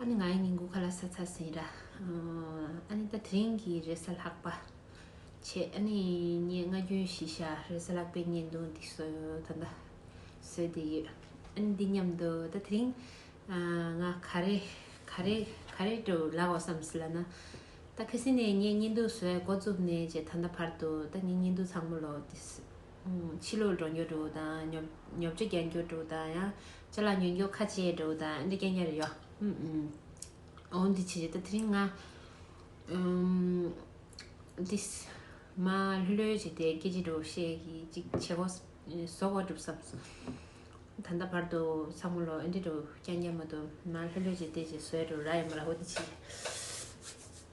ཨ་ནི་ང་ཡི་སྙིང་གུ་ཁ་ལ་ས་ཚ་ཟིན་ར། ཨ་ནི་ད་དེ་རིང་གི་རེས་གཟའ་ལྷག་པ། ཆེ་ཨ་ནི་ངས་སྔ་རྒྱུན་བཞིན་ཤ་རེས་གཟའ་ལྷག་པའི་བརྙན་ཐུང་འདི་ཟོས་ད་ཟོས་བསྡད་ཡོད། ཨ་ནི་འདི་སྙམ་དུ་ད་དེ་རིང་ང་ག་རེ་ག་རེ་ག་རེ་དུ་ལག་བ་བསམ་སྲིད་ལ་ན། ད་ཁ་སིང་ནས་ངས་བརྙན་ཐུང་ཟོས་འགོ་བཙུགས་ནས་ཇེ་ད་ལྟ་བར་དུ་ད་ངས་བརྙན་ཐུང་ཚང་མ་ལོག་བསྡད། ཕྱི་ལུགས་འགྲོ་འགྱུར་དྲུག་དང། ཉོབ་ཆུ་རྒྱལ་འགྱུར་དྲུག་དང། ལྕེ་ལ་ཉོན་འགྱུར་ཁ་ཆེ་དྲུག་དང། འདི་སྐད་ཉར་ཡོད། འོ་འདི་ཕྱི་ད་ཐེངས་ང། འདི། མ་ལྷོད་ལྷོད་བྱས་ཏེ་སྐད་ཅིག་འགྲོ་ཤེས་ཀྱི་ཅིག་བྱེད་གོ། ཟོག་བ་གྲུབ་བསམ། ད་ལྟ་བར་དུ་ཚ་མོ་ལོ་ཨེ་འདྲས་འགྲོ་རྐྱང་རྐྱང་མ་འདུག་མ་ལྷོད་ལྷོད་བྱས་ཏེ་ཅིག་བཟོས་འགྲོ་ར་ཡོད་མ་ར་འོ་འདི་ཕྱི།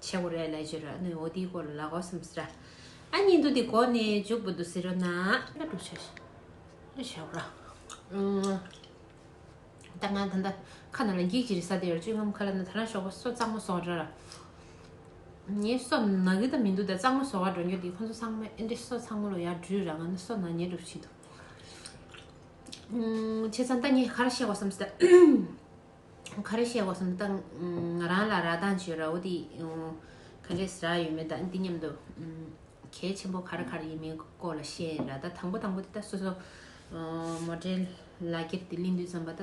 ཆེ་གོ་རེ་ལ་ཇི་ར་ནུས་འོ་དེའི་གོ་ལ་ལ་གོ་སམ་སི་ར་ཨ་ཉིན་དུ་དེ་གོ་ནས་འཇུག་པ་དུ་སི་ར་ན་ལ་འགྲོ་ཆེ་ལ་ཆེ་གོ་ར་ད་ང་ད་ད་ཁ་ན་ལ་འགྱིག་ཇི་རི་ས་དེ་ར་ཅུང་ངམ་ཁ་ལ་ན་ད་ར་ཤོག་པ་སོ་གཙང་མ་སོག་ར་ར་ངའི་སོ་ན་གི་ད་མི་འདུག་ད་གཙང་མ་སོག་ག་འགྲོ་འགྱོ་དེ་ཁོ་ཚོ་ཚང་མ་ཨེ་འདྲེ་སོ་ཚང་མ་ལོ་ཡར་འགྲུས་ར་ང་ན་སོ་ན་ཉེ་འགྲུབ་ཆེ་དུ་ཆེ་ཚང་ད་ངས་ག་ར་ཤེས་གོ་སམ་སི་ར་ག་རེ་བཤད་དགོས་སམ་ད་ང་རང་ལ་རག་གདངས་བྱོས་རའོ་དེ་ག་རེ་ཟ་ཡོད་མེད་ད་འདི་སྙམ་དུ་གལ་ཆེན་པོ་ག་རེ་ག་རེ་ཡིན་མིན་སྐོར་ལ་བཤད་ཡིན་ར་ད་དང་པོ་དང་པོ་དེ་ད་སོ་སོ་མོ་འདྲེན་ལག་འཁྱེར་དེ་གླིང་དུ་འཛོམས་པ་ད་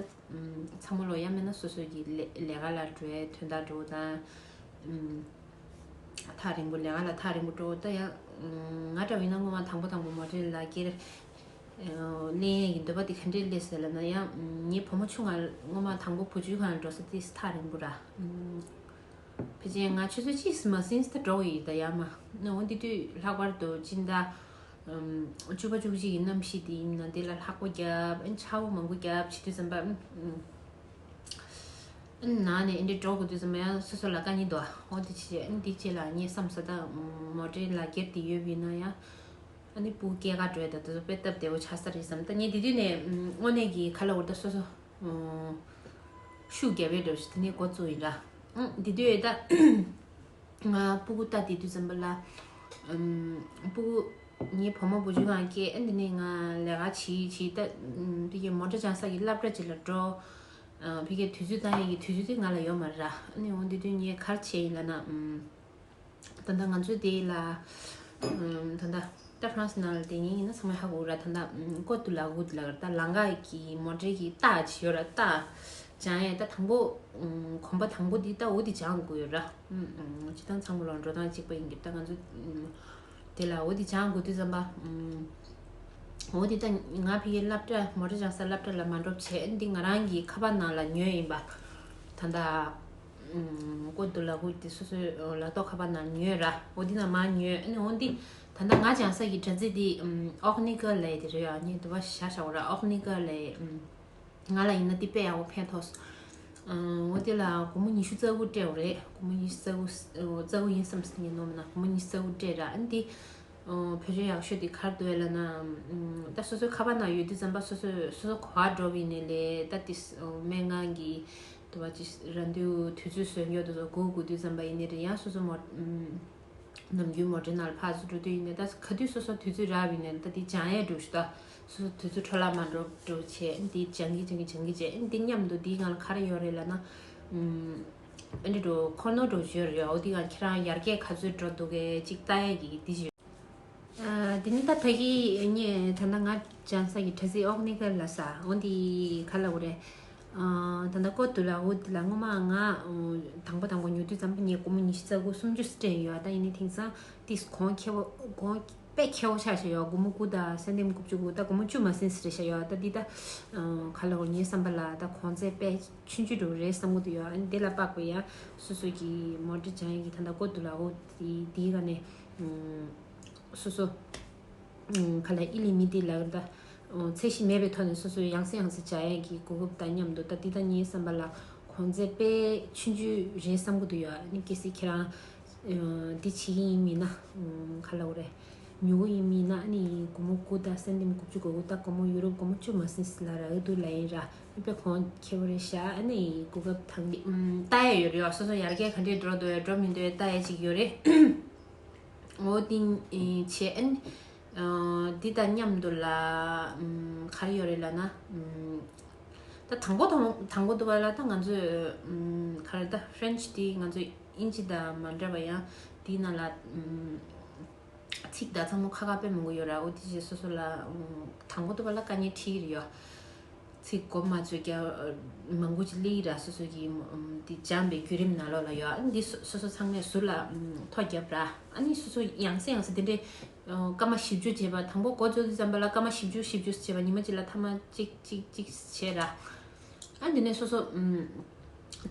ཚང་མ་ལོ་ཡང་མེད་ན་སོ་སོ་གི་ལས་ཀ་ལ་འགྲོ་ཡ་དོན་དག་འགྲོ་ད་ཐག་རིང་པོ་ལས་ཀ་ལ་ཐག་རིང་པོ་འགྲོ་ད་ཡང་ང་འདྲ་བ་ཡིན་ན་སྔོན་མ་དང་པོ་དང་པོ་མོ་འདྲེན་ལག་འཁྱེར་གླེན་ཡས་ཀྱི་འདོད་པ་འདི་ག་འདྲའི་ཀླད་ཟེར་ལབ་ན་ཡང་ངའི་བུ་མོ་ཆུང་མ་སྔོན་མ་དང་པོ་བུ་ཆུའི་ཁ་ན་འགྲོ་ས་དེ་སི་ཐག་རིང་པོ་ར། ཕལ་ཆེན་ང་ཁྱོད་ཚོའི་ཅི་སི་མ་སིན་སི་ཐག་འགྲོ་གི་ཡོད་ད་ཡ་མ་ནའོ་འདི་དུས་ལྷག་པར་དུ་སྤྱི་ཟླ་བཅུ་པ་བཅུ་གཅིག་གི་གནམ་གཤིས་འདི་ཡིན་ན་འདི་ལ་ལྷག་པོ་རྒྱབ་ཨེ་ཆ་བོ་མང་པོ་རྒྱབ་བྱེད་དུས་ཙམ་པ་ཨེ་ན་ནས་ཨེ་འདྲས་འགྲོ་དགོས་དུས་ཙམ་པ་ཡང་སོ་སོ་ལ་དཀའ་ཉེ་འདུག་ཨ་འོ་དེ་ཕྱིན་ཆད་འདི་བྱས་ལ་ངའི་བསམ་ས་ད་མོ་འདྲའི་ལག་འཁྱེར་འདི་ཡོད་པ་ཡིན་ན་ཡང་ཨ་ནི་པུའུ་སྐྱེས་དགའ་སྤྲོའི་དོད་དུ་དཔེ་བཏབ་བདེ་བོ་ཆགས་ས་རེད་བསམ་ད་ངས་དེ་དུས་ནས་དངོས་གནས་ཀྱི་ཁ་ལོ་བོར་ད་སོ་སོ་ཤུགས་རྒྱབ་ཡོད་འགྲོ་བྱས་དེ་ནས་འགོ་བཙུགས་ཡིན་འདྲ་དེ་དུས་ད་ང་སྤུ་གུ་ལྟ་དེ་དུས་བསམ་པ་ལ་སྤུ་གུ་ངའི་བུ་མོ་བུ་ཆུང་གང་སྐྱེས་ཨ་དེ་ནས་ང་ལས་ཀ་བྱས་བྱས་ད་ཕི་ཁེ་མོ་འདྲ་ཆང་ས་ཀྱི་སླབ་གྲ་ཅིག་ལ་འགྲོ་ཕི་ཁེ་དུས་ཚོད་ཏང་ཡིག་གི་དུས་ཚོད་དེ་ང་ལ་ཡོད་མ་རེད་ར་ཨ་ནི་འོ་དེ་དུས་ངས་གར་བྱས་ཡིན་ལ་ན་ད་ད་ང་ཚོའི་དེ་ལ་ད་ད་ད་ཧྥ་རན་སི་ནང་ལ་དེ་ཉིན་ཡིན་ན་ཚང་མ་ཧ་གོ་ར་ད་ད་ཀོ་ཏུ་ལ་གུ་ཏུ་ལ་ད་ལང་ག་གི་མོ་འབྲེལ་གྱི་རྟ་ཇི་ཡོད་ར་རྟ་བྱང་ཡས་ད་དང་པོ་གོམ་པ་དང་པོ་དེ་ད་འོ་དེ་བྱང་དགོས་ཡོད་ར་ཇི་ད་ཚང་མ་ལོ་འགྲོ་དང་གཅིག་པ་ཡིན་གྱི་ད་ང་ཚོ་དེ་ལ་འོ་དེ་བྱང་དགོས་དུས་ཙམ་པ་འོ་དེ་ད་ང་ཕི་གི་སླབ་གྲྭ་མོ་རེ་རང་ས་སླབ་གྲྭ་ལ་མ་འགྲོ་བྱས་འདི་ང་རང་གི་ཁ་པ་ནང་ལ་ཉོས་ཡིན་པ་ད་ད་ཀུན་ཏུ་ལ་ཀུན་ཏུ་སོ་སོའི་ལ་རྟོགས་ཁ་བ་ན་ཉོན་ར་འོ་འདི་ན་མ་ཉོན་འོ་འདི་ད་ནང་ང་ཅང་ས་ཀྱི་བྲ་ཚིག་འདི་ཨོག་ནི་ཀ་ལའི་དེ་རེད་ཡ་ནི་དུ་བ་ཤ་ཤ་བོ་ར་ཨོག་ནི་ཀ་ལའི་ང་ལ་ཡིན་ན་འདི་པེ་ཡ་བོ་ཕན་ཐོགས་སོ་འོ་འདི་ལ་དགོང་མོ་ཉི་ཤུ་རྩ་དགུ་སྤྲད་བོ་རེད་དགོང་མོ་ཉི་ཤུ་རྩ་དགུ་ཡིན་བསམ་སེམས་ཡིན་ནོ་མ་ན་དགོང་མོ་ཉི་ཤུ་རྩ་དགུ་སྤྲད་ར་འོ་འདི་བོད་རིགས་ཡག་ཤོས་འདི་གར་འདུག་ལ་ན་ད་སོ་སོའི་ཁ་བ་ན་ཡོད་དུས་རྩམ་པ་སོ་སོས་སོ་སོ་གོ་བ་འགྲོ་བའི་ནི་ལས་ད་འདི་སྨན་ཁང་གི་དུ་བ་ཅི་ར་འདུལ་དུས་ཚོད་སོས་མགྱོགས་དུ་སོ་དགུ་དགུ་དུས་འཛམ་པ་ཡིན་ནི་རེད་ཡང་སོ་སོ་མོ། ནམ་རྒྱུན་མོ་དྲིན་ནར་ཕག་སུ་འགྲོ་དུས་ཡིན་ནི་ད་ག་དུས་སོ་སོ་དུས་ཚོད་རག་ཡིན་ནི་ད་འདི་བྱང་ཡས་འགྲོ་ཞུ་ད། སོ་སོ་དུས་ཚོད་འཕྲོ་བརླག་མ་འགྲོ་འགྲོ་བྱས་འདི་བྱང་གི་བྱང་གི་བྱང་གི་བྱས་འདི་སྙམ་དུ་འདི་ང་ལ་ག་རེ་ཡོད་རེད་ལ་ན། ཨ་འདྲེ་འགྲོ་ཁོ་ནོར་འགྲོ་ཞོད་རེད་འོ་འདི་གང་ཁྱེད་རང་ཡར་རྒྱས་ག་ཚོད་འགྲོ་འདུག་གས་ཅིག་ལྟ་ཡས་ཀྱི་འདི་བྱོས། འདི་ནི་ད་ད་གི་ངས་ད་ང་བྱང་ས་ཀྱི་དྲ་ཚིགས་ཨོག་ནི་ག་ལ་ས་འོ་འདི་ག་ལ་འོ་རེད། ད་ལྟ་ཀོ་ཏུ་ལ་ཨུ་དེ་ལ་སྔོན་མ་ང་དང་པོ་དང་པོ་ཉོ་དུས་ཙམ་ངས་སྒོར་མོ་ཉི་ཤུ་རྩ་དགུ་སུམ་ཅུ་སྤྲད་ཡོད་ད་ཡིན་ནའི་དེང་སང་དེ་གོང་ཁེ་བོ་གོང་དཔེ་ཁེ་བོ་ཆགས་བཞག་ཡོད་སྒོར་མོ་དགུ་དང་སེན་ལྡེམ་དགུ་བཅུ་དགུ་ད་སྒོར་མོ་བཅུ་མ་ཟིན་ཟེར་བཞག་ཡོད་ད་འདི་ད་ག་ལ་འོ་ངའི་བསམ་པ་ལ་ད་གོང་ཚད་དཔེ་ཆུན་ཅུ་དྲུག་རེད་བསམ་གོ་དུ་ཡོད་དེ་ལ་དཔག་པའི་ཡ་སོ་སོ་གི་མོ་འདྲེ་བྱང་གི་ད་ལྟ་ཀོ་ཏུ་ལ་ཨུ་དེ་དེའི་ག་ནས་སོ་སོ། ག་ལ་ཨི་ལི་མི་ཏི་ལ་ད། ཚད་གཞི་མེད་པའི་ཐོག་ནས་སོ་སོའི་ཡང་སྲིད་ཡང་སྲིད་བྱ་ཡན་གྱི་གོ་སྐབས་དང་མཉམ་དུ་ད་འདི་ད་གཉིས་བསམ་པ་ལ་གོང་ཚད་དཔེ་ཆུན་ཆུན་རེད་བསམ་གི་འདུག་ཡ་ནི་གལ་སྲིད་ཁྱེད་རང་འདི་བྱེད་ཀྱི་ཡིན་མིན་ན་ག་ལ་འོ་རེད། མྱུ་གུ་ཡིན་མིན་ན་ཨ་ནི་དགོང་མོ་དགུ་ད་སེམས་ཏིམ་དགུ་བཅུ་གོ་གུ་ད་དགོང་མོ་ཡུ་རོབ་དགོང་མོ་བཅུ་མ་སིན་སི་ལ་ར་ཨི་དུ་ལ་ཡིན་ར་ཨི་པེ་གོང་ཁྱེད་འོ་རེད་ཤ་ཨ་ནི་གོ་སྐབས་དང། ལྟ་ཡས་ཡོད་རེད་ཡོ་སོ་སོ་ཡར་རྒྱས་ག་འདྲས་འགྲོ་འདོད་འགྲོ་མི་འདོད་ལྟ་ཡས་ཅིག་ཡོད་རེད། ངོ་བོ་ཏིང་ཆེ་ཨན། འདི་དང་མཉམ་དུ་ལ་ག་རེ་ཡོད་རེད་ལ་ན། ད་དང་པོ་དང་པོ་འདུག་པ་ལ་ད་ང་ཚོས་ག་རེ་ད French འདི་ང་ཚོ་དབྱིན་ཇི་དང་མ་འདྲ་བ་ཡང་འདི་ནང་ལ་ཚིག་དག་ཚང་མ་ཁ་ཁ་པའི་མང་པོ་ཡོད་ར་འོ་དེ་བཞིན་སོ་སོ་ལ་དང་པོ་འདུག་པ་ལ་དཀའ་ངལ་ཁྲི་ཡི་རེ་ཡོད། ཚིག་གོ་མ་ཚོད་ཀྱི་མ་མགུ་ཅི་ལི་ཡི་ར་སོ་སོ་གྱི་འདི་འཇམ་པའི་བརྒྱུད་རིམ་ན་ལོག་ལ་ཡོད་ཨ་ནི་འདི་སོ་སོ་ཚང་མས་ཟུར་ལ་ཐོ་བརྒྱབ་ར་ཨ་ནི་སོ་སོ་ཡང་སེ་ཡང་སེ་དེ་འདྲའི་སྐར་མ་བཞི་བཅུ་བྱས་པ་དང་པོ་གོ་ཚོད་འདི་འཇམ་པ་ལ་སྐར་མ་བཞི་བཅུ་བཞི་བཅུ་བྱས་པ་ཉི་མ་གཅིག་ལ་ཐ་མ་གཅིག་གཅིག་གཅིག་བྱས་ར་ཨ་འདི་ནས་སོ་སོ་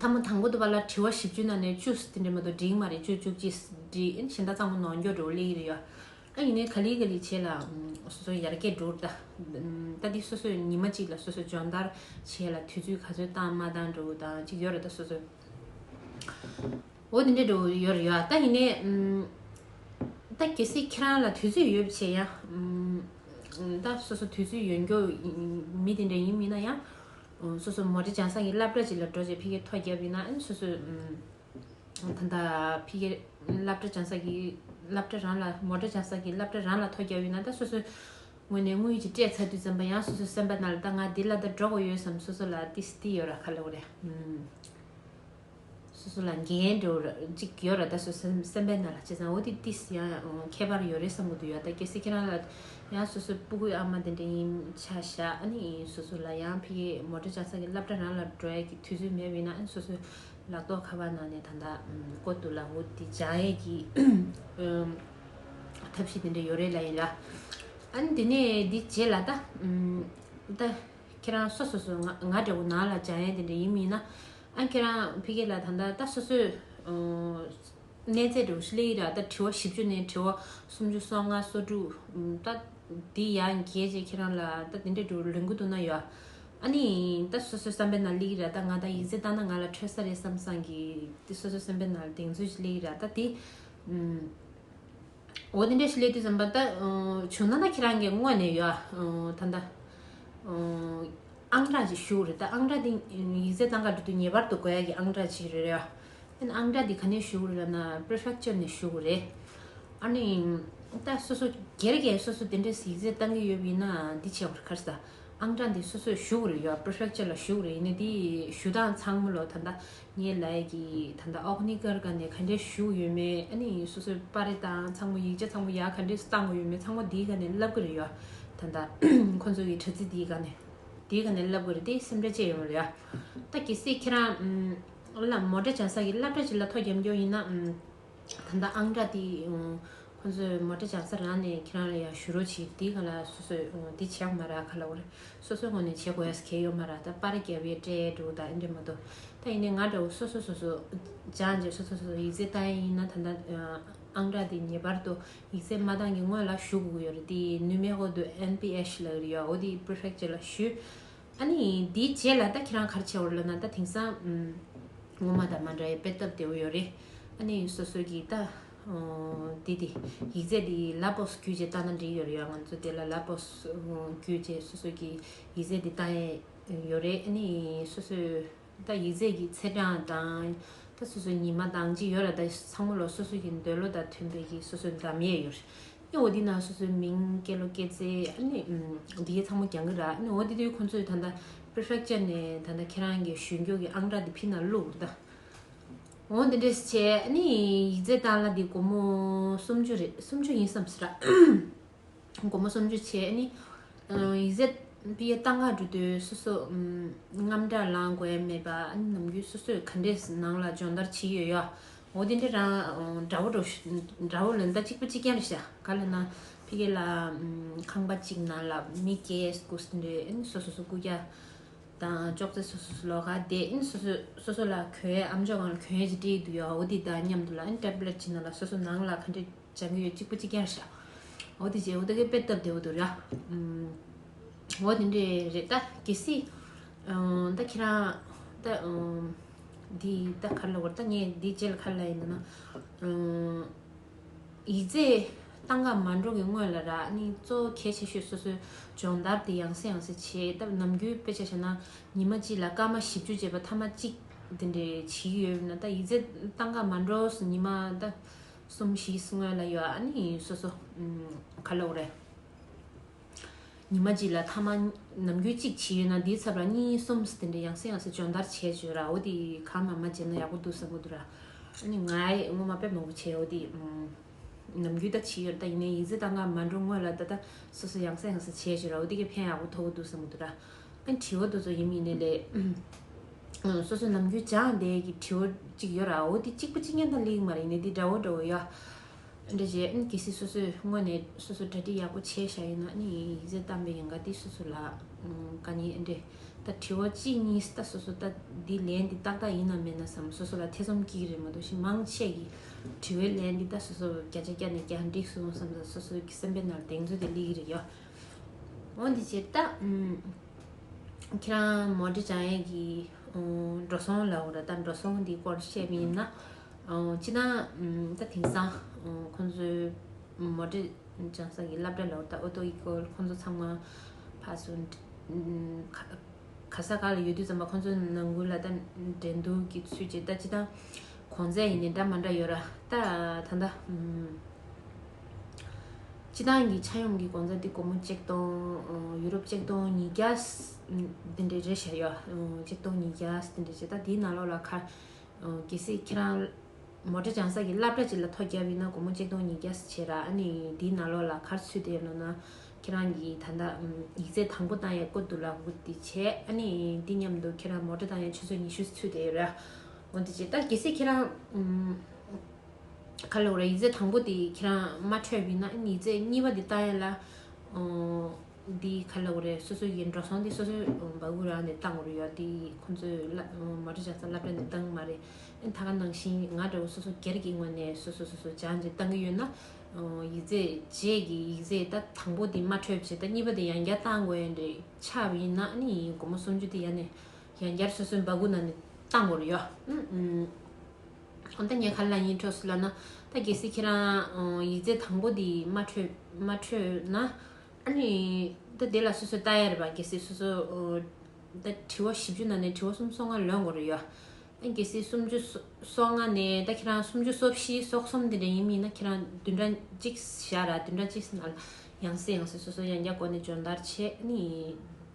ཐ་མ་དང་པོ་དུ་བ་ལ་དྲི་བ་བཞི་བཅུ་ན་ནས་བཅུ་སི་དེ་འདྲའི་མ་དོ་འགྲིག་མ་རེད་བཅུ་བཅུ་གཅིག་སི་འདྲི་ཨ་ནི་གཞན་དག་ཚང་མ་ནོར་འགྱོག་འགྲོ་བ་ལི་ཡི་ར་ཡོད། ཨ་ཡིན་ནའི་ག་ལི་ག་ལི་བྱས་ལ་སོ་སོའི་ཡར་རྒྱས་འགྲོ་རུ་གདའ། ད་དེ་སོ་སོས་ཉི་མ་གཅིག་ལ་སོ་སོའི་སྦྱོང་བརྡར་བྱས་ལ་དུས་ཚོད་ག་ཚོད་བཏང་མ་བཏང་འགྲོ་འུ་དང་གཅིག་ཡོད་རེད་ད་སོ་སོས། འོ་དེ་འདྲས་འགྲོ་འུ་ཡོད་རེད་ཡ་ད་ཡིན་ནའི། ད་གལ་སྲིད་ཁྱེད་རང་ལ་དུས་ཚོད་ཡོད་བྱས་ཡ། ད་སོ་སོ་དུས་ཚོད་ཡོད་མགྱོགས་མི་དེ་འདྲས་ཡིན་མིན་ན་ཡང། སོ་སོ་མོ་རེ་སྦྱང་བསང་གི་སླབ་གྲ་གཅིག་ལ་འགྲོ་བྱས་ཕི་ཀའི་ཐོ་རྒྱབ་ཡིན་ན་ཨ་ནི་སོ་སོས། ད་ལྟ་ཕི་ཀའི་སླབ་གྲྭ་སྦྱང་ས་ཀྱི་སླབ་གྲྭ་རང་ལ་མོ་གྲྭ་སྦྱང་ས་ཀྱི་སླབ་གྲྭ་རང་ལ་ཐོ་རྒྱག་ཡོད་ན་ད་སོ་སོའི་ངོས་ནས་དངུལ་གྱི་སྤྲད་ཚར་དུས་ཙམ་པ་ཡང་སོ་སོའི་སེམས་པ་ན་ད་ང་འདི་ལ་ད་འགྲོ་དགོས་ཡོད་བསམ་སོ་སོ་ལ་ཏི་སི་ཏི་ཡོད་ར་ཁ་ལོ་རེད་སོ་སོ་ལ་འགན་འགྲོ་ར་ཅིག་ཡོད་ར་ད་སོ་སོའི་སེམས་པའི་ན་ལ་བྱས་ཙང་འོ་དི་ཏི་སི་ཡང་ཁྱད་པར་ཡོད་རེད་བསམ་གི་འདུག་ཡ་ད་གལ་སྲིད་ཁྱེད་རང་ལ་ཡང་སོ་སོའི་སྤུ་གུའི་ཨ་མ་དེ་འདྲ་ཡིན་ཆ་བཞག་ཨ་ནི་སོ་སོ་ལ་ཡང་ཕི་ཀའི་མོ་གྲྭ་སྦྱང་ས་ཀྱི་སླབ་གྲྭ་རང་ལ་འགྲོ་ཡ་གི་དུས་ཚོད་མེད་པ་ཡིན་ན་ཨ་ནི་སོ་སོའི་ལག་ཏོག་ཁ་བ་ན་ནས་ད་ལྟ་བཀོད་འདུག་ལག་འོད་དེ་འཇང་ཡས་ཀྱི་ཐབས་ཤེས་དེ་འདྲ་ཡོད་རེད་ལ་ཡིན་ལ། ཨཱ་ནི་དེ་ནས་དེ་རྗེས་ལ་ད། ད་ཁྱེད་རང་སོ་སོ་སོ་ང་འདྲ་བོ་ནང་ལ་འཇང་ཡས་དེ་འདྲ་ཡིན་མིན་ན། ཨཱ་ཁྱེད་རང་ཕི་གེ་ལ་ད་ལྟ་ད་སོ་སོས་གནས་རྫས་འདྲ་བོ་ཞིག་གླེང་ཡིན་ར་ད་དྲི་བ་བཞི་བཅུ་ནས་དྲི་བ་སུམ་ཅུ་སོ་ལྔ་སོ་དྲུག་ད་དེ་ཡང་གལ་ཆེ་ཁྱེད་རང་ལ་ད་དེ་འདྲ་འདྲུ་ལོན་གི་འདུག་ན་ཡོད་ཨ་ནི། ད་སོ་སོའི་བསམ་པའི་ནང་གླེགས་ར་ད་ང་ད་ཡིག་རྩེད་བཏང་ན་ང་ལ་འཕྲོད་ས་རེད་བསམ་བསམ་གི། དེ་སོ་སོའི་སེམས་པའི་ནང་གདེང་ཚོད་ཅིག་གླེགས་ར་ད་དེ། འོ་དེ་འདྲ་ཞིག་གླེགས་དུས་བསམ་པ་ད་བྱུང་ན་ད་ཁྱེད་རང་གི་དངོས་ནས་ཡོད་ད་ད། ཨང་གྲངས་ཅིག་ཞུ་རེད་ད་ཨང་གྲངས་དེ་ཡིག་རྩེད་བཏང་ག་དུས་དུས་ངེས་པར་དུ་དགོས་ཡ་གི་ཨང་གྲངས་ཅིག་རེད་ཡ། དེ་ན་ཨང་གྲངས་དེ་ག་ནས་ཞུ་རེད་ན Prefecture ནས་ཞུ་གི་རེད། ཨ་ནི། ད་སོ་སོ་སྒེར་གྱིས་སོ་སོ་དེ་འདྲས་ཡིག་རྩེད་བཏང་གི་ཡོད་ཡིན་ན་དེ་བྱས་པར་ཁར་ས། ཨང་གྲངས་འདི་སོ་སོས་བཞུགས་རེ་ཡོད Prefecture ལ་བཞུགས་རེ་ཡིན་ན་དེའི་ཞུ་སྟངས་ཚང་མ་ལོ་ད་ལྟ་ངའི་ལས་ཀྱི་ད་ལྟ་ཨོག་ནི་ཀར་ག་ནས་ག་འདྲས་བཞུགས་ཡོད་མེད་ཨ་ནི་སོ་སོས་པར་རེ་དང་ཚང་མ་ཡིག་ཆ་ཚང་མ་ཡག་ག་འདྲས་བཏང་གི་ཡོད་མེད་ཚང་མ་དེའི་ག་ནས་ལབ་གི་རེ་ཡོད་ད་ལྟ་ཁོང་ཚོ་གི་དྲ་ཚིགས་དེའི་ག་ནས་དེའི་ག་ནས་ལབ་གི་རེ་དེའི་སེམས་ཁྲལ་བཅས་ཡོང་རེ་ཡོད་ད་གལ་སྲིད་ཁྱེད་རང་མོ་འདྲ་བྱང་ས་གི་བླ་བྲ་ཅིག་ལ་ཐོ་རྒྱབ་མགྱོགས་ཡིན་ན་ད་ལྟ་ཨང་སྒྲ་འདི་ཁོ་ཚོས་མོ་འདྲ་བྱང་ས་རག་ནས་ཁྱེད་རང་ལ་ཡང་ཞུ་རོགས་བྱེད་འདི་ག་ལ་སོ་སོས་འདི་བྱས་གོ་མ་རག་ག་ལ་འོ་རེད་སོ་སོའི་ངོ་ནས་བྱེད་དགོས་གལ་ཡོད་མ་རག་ད་པར་རྒྱལ་བའི་སྐྲའི་འབྲུག་དང་འདྲེས་མ་འདུག་ད་ཡིན་ནའི་ང་འདྲ་བོ་སོ་སོས་སོ་སོ་སྦྱང་རྗེས་སོ་སོས་སོ་སོ་ཡིག་རྩིས་བཏང་ཡས་ཡིན་ན་ད་ལྟ་ཨང་སྒྲ་འདི་ངེས་པར་དུ་ཡིག་རྩིས་མ་བཏང་གི་སྔོན་ལ་ཞུ་དགོས་ཀྱི་ཡོད་རེད་དེ་ནུས་མེད་ཧོ་དུ NPH ལ་ཡོད་རེད་ཡའོ་དེའི Prefecture ལ་ཞུས། ཨ་ནི་འདིའི་རྗེས་ལ་ད་ཁྱེད་རང་གར་ཆས་བོར་ལབ་ན་ད་དེང་སང་ངོ་མ་དང་མ་འདྲ་བའི་དཔེ་བཏབ་བདེ་བོ་ཡོད་རེད་ཨ་ནི་སོ་སོ་གིས་ད་འདི་དེ་ཡིག་རྫས་འདི་ལབ་བོས་གུས་རྗེས་བཏང་ན་འགྲིག་ཡོད་རེད་ཡ་ང་ཚོ་དེ་ལ་ལབ་བོས་གུས་རྗེས་སོ་སོ་གིས་ཡིག་རྫས་འདི་བཏང་ཡོད་རེད་ཨ་ནི་སོ་སོས། ད་ཡིག་རྩལ་གྱི་ཚེ་འབྲང་དང། ད་སོ་སོའི་ཉི་མ་དང་ཅི་ཡོད་ར་ད་ཚང་མ་ལོ་སོ་སོ་ཡི་འདོད་བློ་དང་མཐུན་པའི་གྱི་སོ་སོའི་འགྲམ་ཡས་ཡོད་རེད་ཨེ་འོ་འདི་ན་སོ་སོའི་མིང་སྐད་ལོ་སྐད་རྩེ་ཨ་ནི་འདི་གས་ཚང་མ་གྱང་གི་ར་ཨེ་འོ་འདི་དོན་ཁོང་ཚོས་ད་ད Prefecture ནས་ད་ད་ཁྱེད་རང་གྱི་གཞུས་འགྱོག་གྱི་ཨང་གྲགས་འདི་ཕིན་ན་བླུག་ར་ད་འོ་འདི་འདྲས་བྱས་ཨ་ནི་ཡིག་རྩལ་བཏང་ལ་འདི་སྒོར་མོ་སུམ་ཅུ་རེད་སུམ་ཅུ་ཡིན་བསམ་སྲིད་ར། སྒོར་མོ་སུམ་ཅུ་བྱས་ནི། ཡིག་གཟེར་པི་ཡའི་རྟ་འགག་འབྲུ་དོན་སོ་སོ། རྔམ་སྒྲ་ལང་དགོས་ཡ་མེད་པ། ནམ་རྒྱུན་སོ་སོས་ག་འདྲའི་ནང་ལ་སྦྱོང་བརྡར་བྱེད་ཡོད་ཡ། འོ་དེ་འདྲའི་རང་འདྲ་བོ་འདྲ་བོ་ལོན་ད་གཅིག་པུ་གཅིག་ཀྱང་རེ་བྱ། ག་ལ་ན། ཕི་ཀེ་ལ། ཁང་པ་གཅིག་ནང་ལ་མི་སྐྱེ་དགུ་སུ་འདྲེ་ཨིན་སོ་སོ་སུ་སྐུ་རྒྱ། དང་ཅོག་ཙེ་སོ་སོ་སུ་ལོག་ག་བསྡད་ཨིན་སོ་སོས་སོ་སོ་ལ་གོའི་ཨམ་ཅོག་གང་ལ་གོན་ཡ་ཅིག་དྲིས་ཡོད་དུ་ཡ་འོ་དེ་དང་མཉམ་དུ་ལ་ཨིན་ཏེབ་ལེ་ཅི་ནང་ལ་སོ་སོ་ནང་ལ་ག་འདྲའི། བྱ་མི་ཡོད་གཅིག་པུ་གཅིག་ཀྱང་བྱ། འོ་དེ་རྗེས་འོ་ད་གེ་དཔེ་བཏབ་བདེ་བོ་འདུག་ར། འོ་དེ་འདྲས་རེད་ད་གལ་སྲིད། ད་ཁྱེད་རང། ད། འདི་ད་ག་ལ་བར་ད་ངས་འདི་བརྗེད་ལ་ག་ལ་ཡིན་ན། ཡིག་རྩེད་སྟངས་ཀ་མ་འགྲོ་གི་སྔོན་ལ་ར་ནི་གཙོ་བོ་གལ་ཆེ་ཤོས་སོ་སོའི་སྦྱོང་བརྡར་དེ་ཡང་སེ་ཡང་སེ་བྱེད་སྟབས་ནམ་རྒྱུན་དཔེ་ཆ་བྱ་ན་ཉི་མ་གཅིག་ལ་སྐར་མ་བཞི་བཅུ་བྱེད་པ་ཐ་མ་གཅིག་དེ་འདྲས་བྱེད་ཀྱི་ཡོད་ན་ད་ཡིག་རྩེད་སྟངས་ཀ་མ་འགྲོ་སོ་ཉི་མ་ད། གསུམ་བཞིས་སྔོན་ལ་ཡོད་ཨ་ནི་སོ་སོ། ཁ་ལོག་རེད། ཉི་མ་གཅིག་ལ་ཐ་མ་ནམ་རྒྱུན་གཅིག་བྱས་ཡོད་ན་འདིའི་ཚབ་ལ་གཉིས་གསུམ་དེ་འདྲ་ཡང་སྲིད་ཡང་སྲིད་སྦྱོང་བརྡར་བྱས་བྱོས་ར་འོ་དེ་གང་ངམ་མ་བྱས་ན་ཡག་པོ་འདུག་བསམ་གོ་འདུག་ར། ཨ་ནི་ང་སྔོན་མ་པད་མ་བུ་བྱས་འོ་དེ། ནམ་རྒྱུན་ད་བྱས་ཡོད་ར་ད་ཡིན་ནའི་ཡིན་ཟེར་ད་ང་མ་འགྲོ་སྔོན་ལ་ད་ད་སོ་སོ་ཡང་སྲིད་ཡང་སྲིད་བྱས་བྱོས་ར་འོ་དེ་གས་ཕན་ཡག་པོ་ཐོབ་གོ་འདུག་བསམ་གོ་འདུག་ར། དྲི་བ་འདི་ཚོ་ཡིན་མི་ཡིན་ནི་ལས། སོ་སོའི་ནམ་རྒྱུན་སྦྱངས་བསྡད་ཀྱི་དྲི་བ་གཅིག་ཡོད་ར་འོ་དེ་གཅིག་པུ་གཅིག་ཉན་དང་གླེང་མ་རེད་ནི་འདི་འདྲ་བོ་འདྲ་བོ་ཡ། འདྲ་བྱས་ཨ་ནི་གལ་སྲིད་སོ་སོས་དངོས་ནས་སོ་སོ་འདྲ་འདྲི་ཡག་པོ་བྱས་ཤ་ཡིན་ན་ཨ་ནི་ཡིན་ཡིན་ཟེར་གཏམ་དཔེ་ཡིན་ག་འདི་སོ་སོ་ལ་དཀའ་ཉེ་ཨེ་འདྲེ། ད་དྲི་བ་གཅིག་གཉིས་སྟ་སོ་སོ་ལྟ་འདི་ལན་འདི་ཏག་ཏག་ཡིན་ནམ་མེད་ན་བསམ་སོ་སོ་ལ་ཐེ་ཚོམ་སྐྱེ་གི་རེད་མ་གཏོགས་ཤིན་མང་ཆད་ཀྱི་དྲི་བའི་ལན་འདི་ལྟ་སོ་སོ་བརྒྱ་ཆ་བརྒྱ་ནས་བརྒྱ་འགྲིག་སོང་བསམ་ས་སོ་སོ་ཀྱི་སེམས་པའི་ནར་གདེང་ཚོད་དེ་གླེགས་ཀྱི་རེད་ཡ། འོན་ཏེ་ཇི་ལྟ་ཁྱེད་རང་མོ་འབྲི་བྱ་ཡས་ཀྱི་འགྲོ་སོང་ལ་འོ་ར་ད་འགྲོ་སོང་འདིའི་སྐོར་བཤད་པ་ཡིན་ན་ཅི་ན་ད་དེང་སང་ཁོང་ཚོའི་མོ་འབྲི་བྱང་ས་ཀྱི་སླབ་གྲ་ལ་འོ་ད་འོ་ཏོ་ཡི་སྐོར་ཁོང་ཚོ་ཚང་མ་ཕར་སུ་ག་ས་ག་ལ་ཡོད་དུས་ཙམ་པ་ཁོང་ཚོ་ནང་ཁུལ་ལ་ད་འགྲན་སྡུར་གྱི་ཚུལ་བྱེད་ད་ཅི་ད་གོང་ཚད་ཡིན་ནའི་འདྲ་མ་འདྲ་ཡོད་ར་ད་ད་སྤྱི་བཏང་གི་ཆ་ཡོམ་གྱི་དགོང་ཚ་དེ་སྒོར་མོ་གཅིག་སྟོང་ཡུ་རོབ་གཅིག་སྟོང་ཉིས་བརྒྱ་དེ་འདྲས་རེད་བཤད་ཡོད་གཅིག་སྟོང་ཉིས་བརྒྱ་དེ་འདྲས་བྱས་ད་དེའི་ནང་ལོགས་ལ་ཁར་གལ་སྲིད་ཁྱེད་རང་མོ་དྲ་བྱང་ས་གི་སླབ་གྲ་གཅིག་ལ་ཐོ་བརྒྱབ་ཡིན་ན་སྒོར་མོ་གཅིག་སྟོང་ཉིས་བརྒྱ་བྱས་ར་ཨ་ནི་དེའི་ནང་ལོགས་ལ་ཁར་ཚུད་དེ་ཡོད་ན་ན་ཁྱེད་རང་གི་ད་ལྟ་ཡིག་རྩེག་དང་པོ་བཏང་ཡས་བཀོད་འདུག་ལ་སྒུག་བདེ་བྱས་ཨ་ནི་དེ་མཉམ་དུ་ཁྱེད་རང་མོ་དྲ་བཏང་ཡས་ཆུ་ཚོད་ཉི་ཤུ་ཚུད་དེ་ཡོད་ར་སྒུག་བདེ་བྱས་ད་གལ་སྲིད་ཁྱེད་རང་ཁ་ལོ་རེད་ཡིག་རྩེག་དང་པོ་དེ་ཁྱེད་རང་མ་འཕྲོད་ཡིན་ན་ཡིག་རྩེག་གཉིས་པ་དེ་བཏང་ཡོད་ལ། འདི་ཁ་ལོ་རེད་སོ་སོ་ཡི་འགྲོ་སོང་དེ་སོ་སོའི་འབའ་གུ་རང་ནས་བཏང་འོར་ཡོད་དེ་ཁོང་ཚོས་མ་འགྲོ་ཆགས་ས་བསླབ་གྲྭ་ནས་བཏང་མ་རེད་ད་ག་ནང་བཞིན་ང་འདྲ་བོ་སོ་སོ་སྒེར་གྱི་ངོས་ནས་སོ་སོ་སོ་སོ་སྦྱང་རྗེས་བཏང་གི་ཡོད་ན། ཡིག་རྩེག་རྗེས་ཀྱི་ཡིག་རྩེག་ད་དང་པོ་དེ་མ་འཕྲོད་རྗེས་ད་གཉིས་པ་དེ་ཡང་བསྐྱར་བཏང་དགོས་ཡིན་རེད་ཆགས་པ་ཡིན་ན་ནི་ཡིན་དགོང་མོ་སུམ་ཅུ་དེ་ཡང་ནས་ཡང་བསྐྱར་སོ་སོའི་འབའ་གུ་ནང་ནས་བཏང་འོར་ཡོད། ད་ངས་ག་ལ་ལ་ཡིན་འཕྲོས་སོ་ལབ་ན། ད་གལ་སྲིད་ཁྱེད་རང་ཡིག་རྫས་དང་པོ་འདི་མ་འཕྲོས་ན། ཨ་ནི། ད་དེ་ལ་སོ་སོས་བལྟ་ཡ་རེད་པ་གལ་སྲིད་སོ་སོས། ད་དྲི་བ་བཞི་བཅུ་ནང་ནས་དྲི་བ་གསུམ་སོ་ལྔ་ལོན་དགོས་རེད་ཡ། ཨ་གལ་སྲིད་སུམ་བཅུ་སོ་ལྔ་ནས་ད་ཁྱེད་རང་སུམ་བཅུ་སོ་བཞི་སོ་གསུམ་དེ་འདྲ་ཡིན་མིན་ན་ཁྱེད་རང་བདུན་ཕྲག་གཅིག་བཞག་ར་བདུན་ཕྲག་གཅིག་ཟིན་ན་ཡང་སྲིད་ཡང་སྲིད་སོ་སོས་ཡང་བསྐྱར་སྒོ་ནས་སྦྱོང་བརྡར་བྱེད་ཨ་ནི།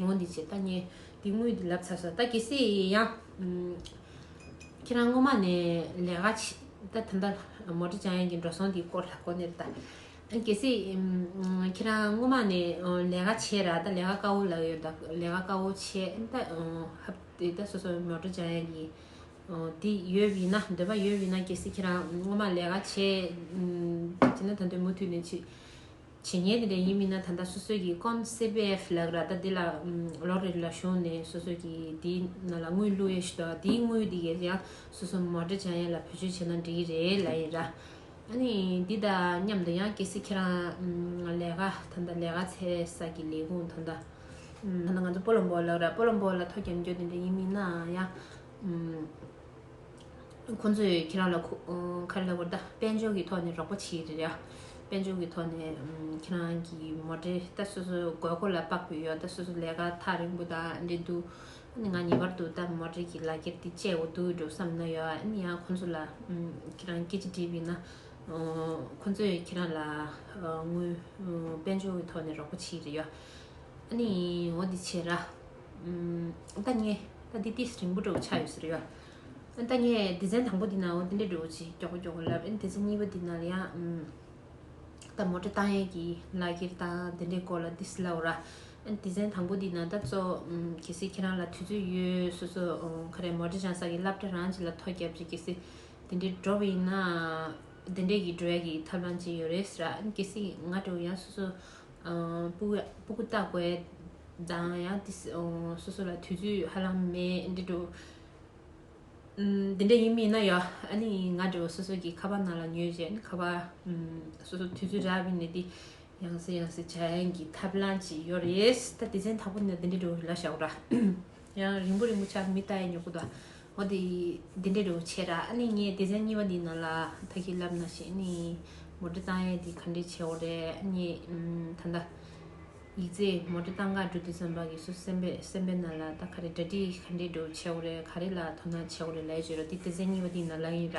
ངོ་འདི་བྱས་ད་ཉེ། འདི་དངུལ་འདི་ལབ་ཚར་ས་ད་གྱིས་སི་ཡང། ཁྱེད་རང་སྔོན་མ་ནས་ལས་ཀ་བྱེད་ད་ད་མདའ་མོ་ཀྲི་ཅང་ཡན་གྱི་འགྲོ་སོང་འདིའི་སྐོར་ལ་གོ་ནས་ད། གྱིས་སི། ཁྱེད་རང་སྔོན་མ་ནས་ལས་ཀ་བྱས་ར་ད་ལས་ཀ་དཀའ་བོ་ལབ་ཡོད་ད་ལས་ཀ་དཀའ་བོ་བྱས་ད། ཧབ་དེ་ད་སོ་སོ་མོ་ཀྲི་ཅང་ཡན་གྱི། འདི་ཡོད་བི་ན་འདོད་པ་ཡོད་བི་ན་གྱིས་སི་ཁྱེད་རང་སྔོན་མ་ལས་ཀ་བྱས། བྱས་ན་ད་འདོད་མུ་མཐུད་ནས་བྱེད། བྱས་ཉེས་དེ་འདྲ་ཡིན་མིན་ན་ད་ལྟ་སོ་སོས་ཀྱིས་ཀོན་སི་པི་ཨེཕ་ལགས་ར་ལྟ་འདི་ལ་ལོ་རེ་ལ་ཞུགས་ནས་སོ་སོས་ཀྱིས་དེའི་ནང་ལ་དངུལ་བླུག་ཡས་ཞུ་དོ་དེའི་དངུལ་དེ་ཀས་ཀྱང་སོ་སོ་མོ་འདྲེ་བྱ་ཡས་ལ་བུ་ཆོས་བྱས་ན་འདྲི་གི་རེད་ལ་ཡིན་ར། ཨ་ནི་འདི་ད་མཉམ་དུ་ཡང་གལ་སྲིད་ཁྱེད་རང་ལས་ཀ་ད་ལྟ་ལས་ཀ་ཚེ་ས་ཀྱི་ལས་ཁུངས་ད་ལྟ། ང་ཚོ་པོ་ལོ་འབོ་ལགས་ར་པོ་ལོ་འབོ་ལ་ཐོ་རྒྱབ་འཇོག་དེ་འདྲ་ཡིན་མིན་ན་ཡང། ཁོ་ཚོས་ཁྱེད་རང་ལ་ཁ་རེ་ལ་བོར་ད། དཔལ་འབྱོར་གྱི་ཐོག་ནས་རོགས་པ་བྱེད་རེ་ཡ། དཔལ་འབྱོར་གྱི་ཐོག་ནས་ཁྱེད་རང་གི་མོ་འདྲེ་ད་སོ་སོའི་དགོས་མཁོ་ལ་དཔག་པའི་ཡོ་ད་སོ་སོ་ལས་ཀ་ཐག་རིང་པོ་དང་འབྲེལ་འདུག་ང་ངེས་པར་དུ་ད་མོ་འདྲེ་གྱི་ལག་འཁྱེར་འདི་སྤྱད་འོ་དུ་འགྲོ་བསམ་ན་ཡོ་ཨ་ནི་ཡང་ཁོ་ཚོ་ལ་ཁྱེད་རང་སྐད་ཅིག་འདྲི་བས་ན། ཁོ་ཚོས་ཁྱེད་རང་ལ་དངུལ་དཔལ་འབྱོར་གྱི་ཐོག་ནས་རོགས་པ་བྱེད་རེ་ཡོ་ཨ་ནི་འོ་འདི་བྱེད་ར། ཨན་ད་ཉེ་ད་འདི་ཏིས་རིང་པོ་འགྲོ་གི་ཆགས་ཡོད་ཟེར་ཡོད་ཨ། ཨན་ད་ཉེ་སྡེ་ཚན་དང་པོ་འདི་ན་འོ་འདི་འདྲས་འགྲོ་གི་ཅིག་མགྱོགས་པོ་མགྱོགས་པོ་ལབ་ཨན་སྡེ་ཚན་གཉིས་པ་འདི་ན་ལ་ཡང་ཨ། ད་མོ་ཏྲ་ཏང་ཡན་གྱི་ལ་ཁྱེར་ད་འདི་འདྲས་སྐོར་ལ་ཏིས་ལབ་ར། ཨན་སྡེ་ཚན་དང་པོ་འདི་ན་ད་གཙོ་གལ་སྲིད་ཁྱེད་རང་ལ་དུས་ཚོད་ཡོད་སོ་སོ་ཁ་རས་མོ་ཏྲ་ཅང་ས་གི་ལབ་ཏྲ་རང་ཅིག་ལ་ཐོ་རྒྱབ་ཅིག་གལ་སྲིད་འདི་འདྲས་འགྲོ་བ་ཡིན་ན་འདི་འདྲས་ཀྱི་འགྲོ་ཡ་གི་ཐབས་ལམ་ཅིག་ཡོད་རེད་ཟེར་ར་ཨན་གལ་སྲིད་ང་འགྲོ་ཡང་སོ་སོ། སྤུ་གུ་སྟག་པའི་མདངས་ཡང་དེ་སོ་སོ་ལ་དུས་ཚོད་ཧ་ལམ་མེད་འདི་འདྲ་འདི་འདྲ་ཡིན་མིན་ན་ཡང་ཨ་ནི་ང་འདྲ་བ་སོ་སོ་གི་ཁ་པར་ནང་ལ་ཉོས་རྗེས་ཁ་པར་སོ་སོ་དུས་ཚོད་རག་མིན་ནས་འདི་ཡང་ཟེར་ཡང་ཟེར་བྱ་ཡན་གྱི་ཐབས་ལམ་ཅིག་ཡོད་རེད་ད་དེ་ཚན་དང་པོ་ནས་འདི་འདྲ་འགྲོ་ལ་ཤག་རོ། ཡང་རིང་པོ་རིང་པོ་ཆགས་མི་ལྟ་ཡ་ཉོག་པོ་དང་འོ་དེ་དེ་འདྲའི་རེའུ་ཆེ་ར་ཨ་ནི་ངས་སྡེ་ཚན་གཉིས་པ་འདི་ནང་ལ་ད་གི་ལབ་ན་ཞེས་ནི་མོ་འབྲི་སྟངས་ཡ་དེ་ག་འདྲའི་ཆེ་བོ་རེད་ཨ་ནི་ད་ལྟ་ཡིག་རྩེ་མོ་འབྲི་སྟངས་འགའ་འབྲི་དུས་སེམས་པ་གི་སུ་སེམས་པས་སེམས་པའི་ནང་ལ་ད་ག་རེ་འདྲ་འདྲི་ག་འདྲའི་འབྲེའུ་ཆེ་བོ་རེད་ག་རེ་ལ་དོ་སྣང་ཆེ་བོ་རེད་ལས་བྱེད་རོ་དེ་སྡེ་ཚན་གཉིས་པ་འདི་ནང་ལ་ཡིན་ར་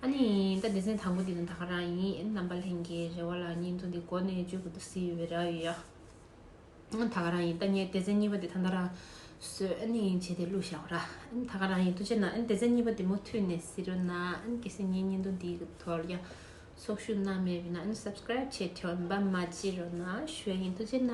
ཨ་ནི་ད་སྡེ་ཚན་དང་པོ་འདི་ནང་ད་ག་རང་ཡིན་རྣམ་པ་ལྷན་རྒྱས་རེ་བ་ལ་ཉིན་ཐོ་འདི་གོ་ནས་བཅོས་དགོས་དུ་སི་བེ་ར་ཡོད་ཡ། ད་ག་རང་ཡིན་ད་ངས་དེ་ཚན་གཉིས་པ་དེ་ད་ད་རང་བཟོས་ཨ་ནི་ཡིན་བྱས་ཏེ་བླུག་བཞག་འོ་ར་ད་ག་རང་ཡིན་ཐུགས་ཆེ་ན་དེ་ཚན་གཉིས་པ་དེ་མུ་མཐུད་ནས་བཟི་རོ་ན་གལ་སྲིད་ངའི་བརྙན་ཐུང་འདིའི་དོར་ཡང་ཚོགས་ཞུགས་གནང་མེད་པས་ན Subscribe བྱས་དྲན་པ་མ་བྱེད་རོ་ན་ཞོལ་ཡིན་ཐུགས་ཆེ་ན།